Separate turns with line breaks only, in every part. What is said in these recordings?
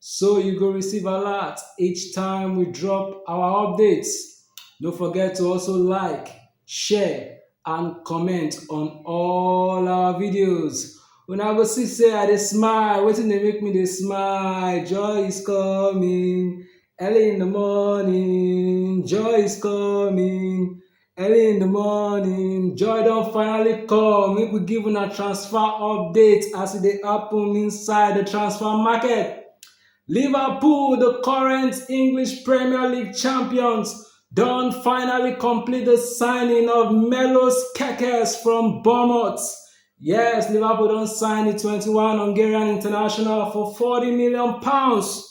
so you go receive alert each time we drop our updates. No forget to also like, share and comment on all our videos. Una go see say I dey smile, wetin dey make me dey smile? Joy is coming early in the morning, joy is coming Early in the morning, joy don finally come. Make we give una transfer update as e dey happen inside the transfer market. Liverpool, the current English Premier League champions, don finally complete the signing of Melos Kekes from Bournemouth. Yes, Liverpool don sign the 21 Hungarian international for 40 million pounds.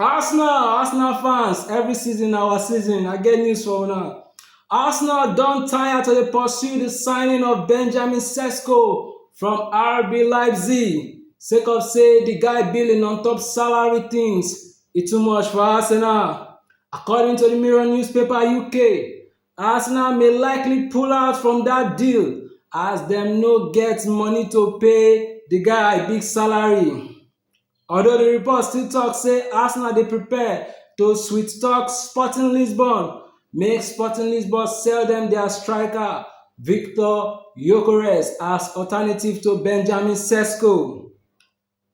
Arsenal Arsenal fans every season na our season, I get news for una. Arsenal don tire to dey pursue the signing of Benjamin Sesko from RB Leipzig sake of say the guy billing on top salary things e too much for Arsenal. According to the Mirror newspaper UK, Arsenal may likely pull out from that deal as dem no get money to pay the guy big salary. although di report still tok say arsenal dey prepare to sweet-talk sporting lisbon make sporting lisbon sell dem dia striker viktor gyökeres as alternative to benjamin sesko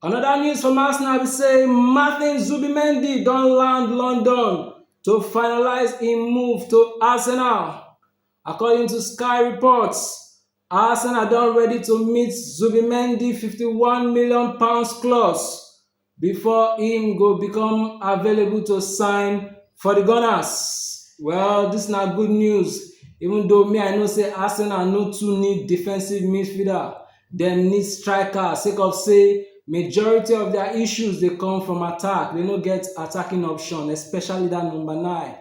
anoda news from arsenal be say martin zubimendi don land london to finalise im move to arsenal according to sky sports. Arsenal don ready to meet Zubimendi £51 million clause before im go become available to sign for the Gunners. Well, this na good news even though me I know say Arsenal no too need defensive midfielder, dem need striker sake of say majority of their issues dey come from attack, they no get attacking option especially that number nine.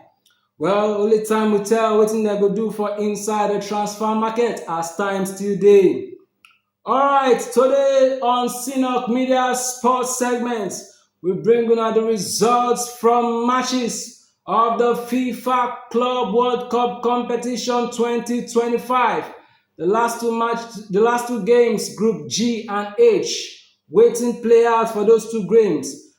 Well, only time will tell wetin dem go do for inside the transfer market as time still dey. Alright, today on Synok Media Sports segment, we bring una the results from matches of the FIFA Club World Cup competition 2025. The last two match, the last two games, Group G and H, waiting players for those two games.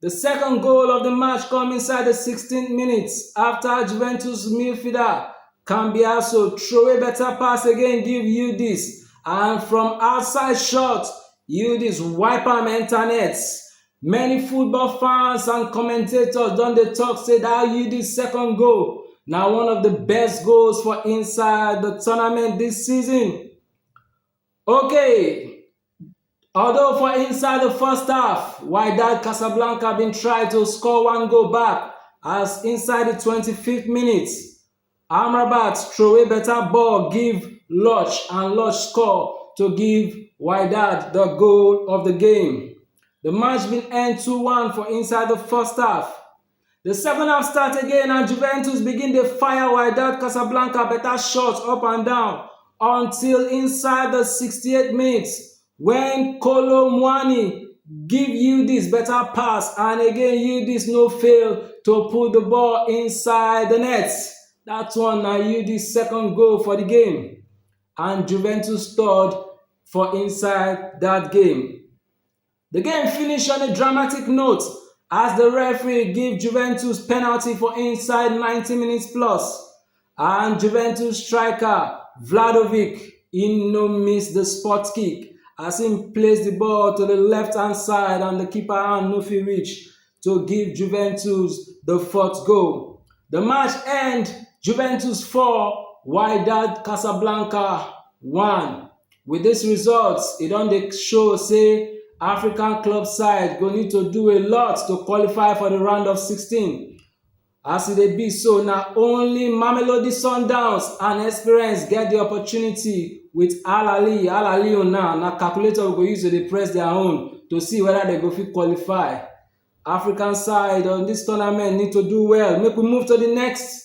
Di second goal of di match come inside di 16th minute afta Juventus midfielder Cambiasso throway beta pass again give Yildiz and from outside shot, Yildiz wipe am enter net. Many football fans and commentators don dey talk say dat Yildiz second goal na one of di best goals for inside di tournament dis season. Okay. Although for inside the first half, Wydad Casablanca bin try to score one goal back as inside the 25th minute, Amrabat throwaway better ball give Lodge and Lodge score to give Wydad the goal of the game. The match bin end 2&1 for inside the first half. The second half start again and Juventus begin the fire Wydad Casablanca better shots up and down until inside the 68 minutes when Kolo Muani give you this better pass and again you this no fail to put the ball inside the net. That one now you this second goal for the game and Juventus third for inside that game. The game finish on a dramatic note as the referee give Juventus penalty for inside 90 minutes plus, and Juventus striker Vlahovic he no miss the spot kick as he placed the ball to the left hand side and the keeper hand no fit reach to give Juventus the fourth goal. The match end Juventus 4, Wydad Casablanca 1. Wit dis result, e don dey show say African club side go need to do a lot to qualify for di round of 16. As e dey be so, na only Mamelodi Sundowns and Esperance get di opportunity wit Al Ahly Al Ahly own now na calculator we go use to dey press their own to see whether dem go fit qualify. African side on dis tournament need to do well make we move to di next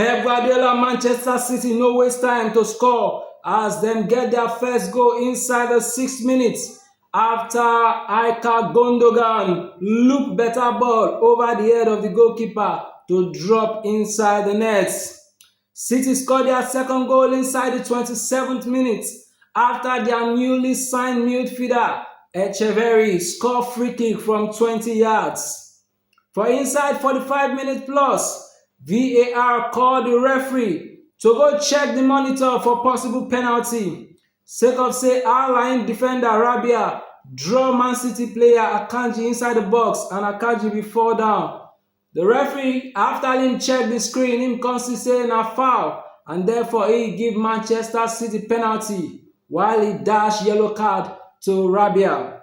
Pep Guardiola Manchester City no waste time to score as dem get their first goal inside the six minutes after Ilkay Gundogan look better ball over the head of the goalkeeper to drop inside the net. City scored their second goal inside the 27th minute after their newly signed midfielder Echeverri scored free kick from 20 yards. For inside 45 minutes plus, VAR call the referee to go check the monitor for possible penalty sake of say Al Ain defender Rabia draw Man City player Akanji inside the box and Akanji bin fall down. The referee, after him check the screen, him come see say na foul and therefore he give Manchester City penalty while he dash yellow card to Rabia.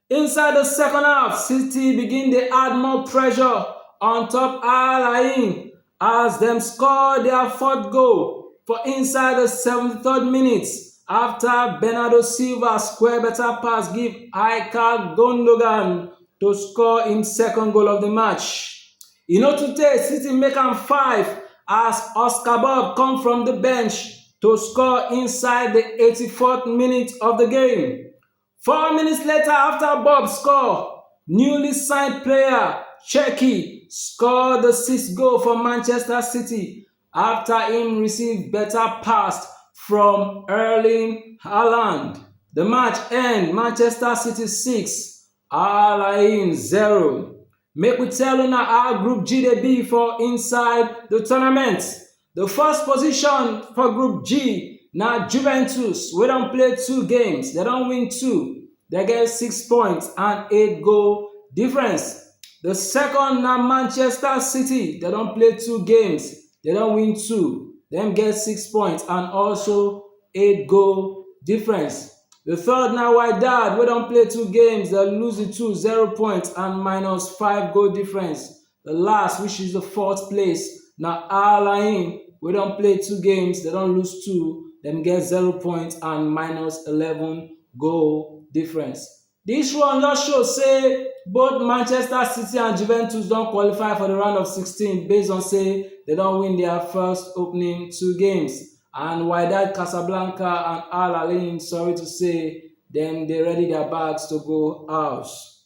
Inside the second half, City begin dey add more pressure on top Al Ain as dem score their fourth goal for inside the 73rd minute after Bernardo Silva square better pass give Ilkay Gundogan to score im second goal of the match. E no too tey City make am five as Oscar Bob come from the bench to score inside the 84th minute of the game. Four minutes later after Bob score, newly signed player Cherki score the sixth goal for Manchester City after im receive better pass from Erling Haaland. The match end Manchester City 6, Al Ain 0. Make we tell una how Group G dey be for inside the tournament. Di first position for group G na Juventus wey don play two games, dem don win two, dem get six points and eight goal difference. Di second na Manchester City, dem don play two games, dem don win two, dem get six points and also eight goal difference. Di third na Wydad wey don play two games, dem lose di two, zero points and minus five goal difference. The last, which is the fourth place, na Al Ain wey don play two games, dem don lose two, dem get zero points and minus eleven goal difference. Dis one just show say both Manchester City and Juventus don qualify for the round of 16 based on say dem don win their first opening two games and Wydad Casablanca and Al Ain sorry to say dem dey ready their bags to go house.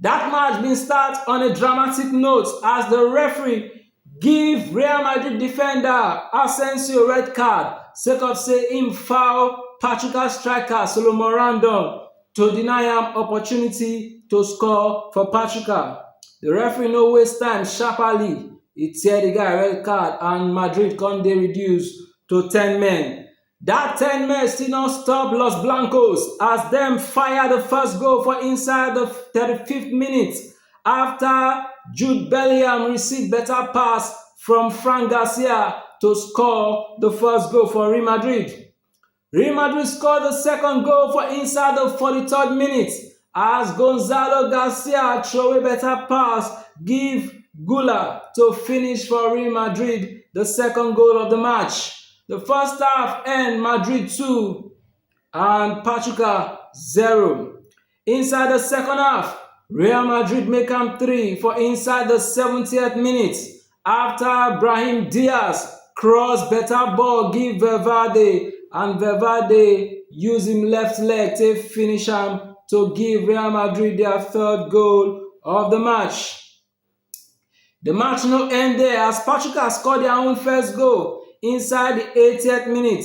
That match bin start on a dramatic note as the referee give Real Madrid defender Asensio red card sake of say im foul Pachuca striker Salomon Rondon to deny am opportunity to score for Pachuca, the referee no waste time sharpaly e tear the guy red card and Madrid come dey reduced to ten men. Dat ten men still no stop Los Blancos as dem fire di first goal for inside di 35th minute afta Jude Bellingham receive beta pass from Fran Garcia to score di first goal for Real Madrid. Real Madrid score di second goal for inside di 43rd minute. as Gonzalo Garcia throwaway better pass give Guler to finish for Real Madrid the second goal of the match. The first half end Madrid 2 and Pachuca 0. Inside the second half, Real Madrid make am 3 for inside the 70th minute after Brahim Diaz cross better ball give Valverde and Valverde use im left leg take finish am to give Real Madrid their third goal of the match. The match no end there as Pachuca score their own first goal inside the 80th minute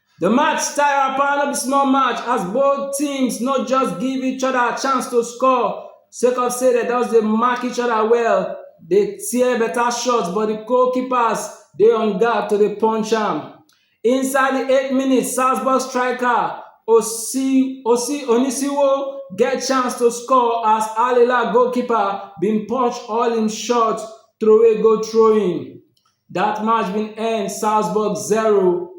The match stir apa no be small match as both teams no just give each other chance to score sake of say dem just dey mark each other well, dey tear better shots but the goalkeepers dey on guard to dey punch am. Inside the eight minutes, Salzburg striker Osi Osi Onisiwo get chance to score as Al Hilal goalkeeper bin punch all im shots throway go throw-in. Dat match bin end Salzburg 0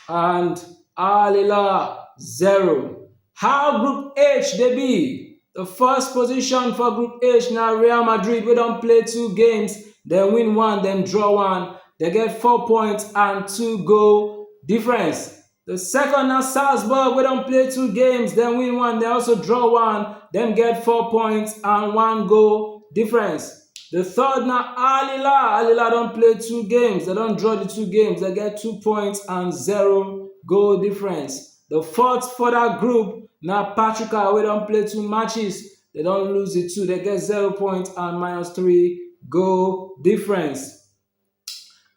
and Al Hilal 0. How Group H dey be? The first position for Group H na Real Madrid wey don play two games, dem win one, dem draw one. Dem get four points and two goal difference. The second na Salzburg wey don play two games, dem win one, dem also draw one, dem get four points and one goal difference. The third na Al Hilal, Al Hilal don play two games, dem don draw the two games, dem get two points and zero goal difference. The fourth for that group na Pachuca wey don play two matches, dem don lose the two, dem get zero points and minus three goal difference.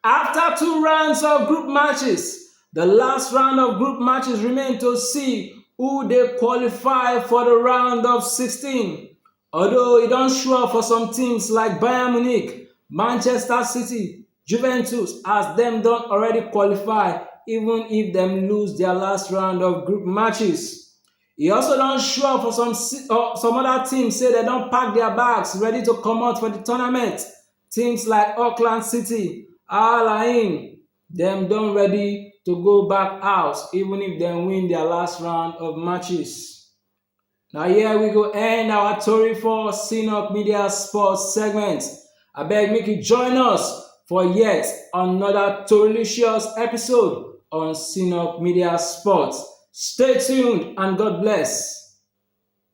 Afta two rounds of group matches, di last round of group matches remain to see who dey qualify for di round of 16, although e don sure for some teams like Bayern Munich, Manchester City, Juventus as dem don already qualify even if dem lose dia last round of group matches. E also don sure for some oda teams say dem don pack dia bags ready to comot for di tournament Teams like Auckland City, Al Ain, dem don ready to go back house even if dem win their last round of matches. Na here we go end our tori for Sinok Media Sports segment. Abeg make you join us for yet another delicious episode on Sinok Media Sports. Stay tuned and God bless.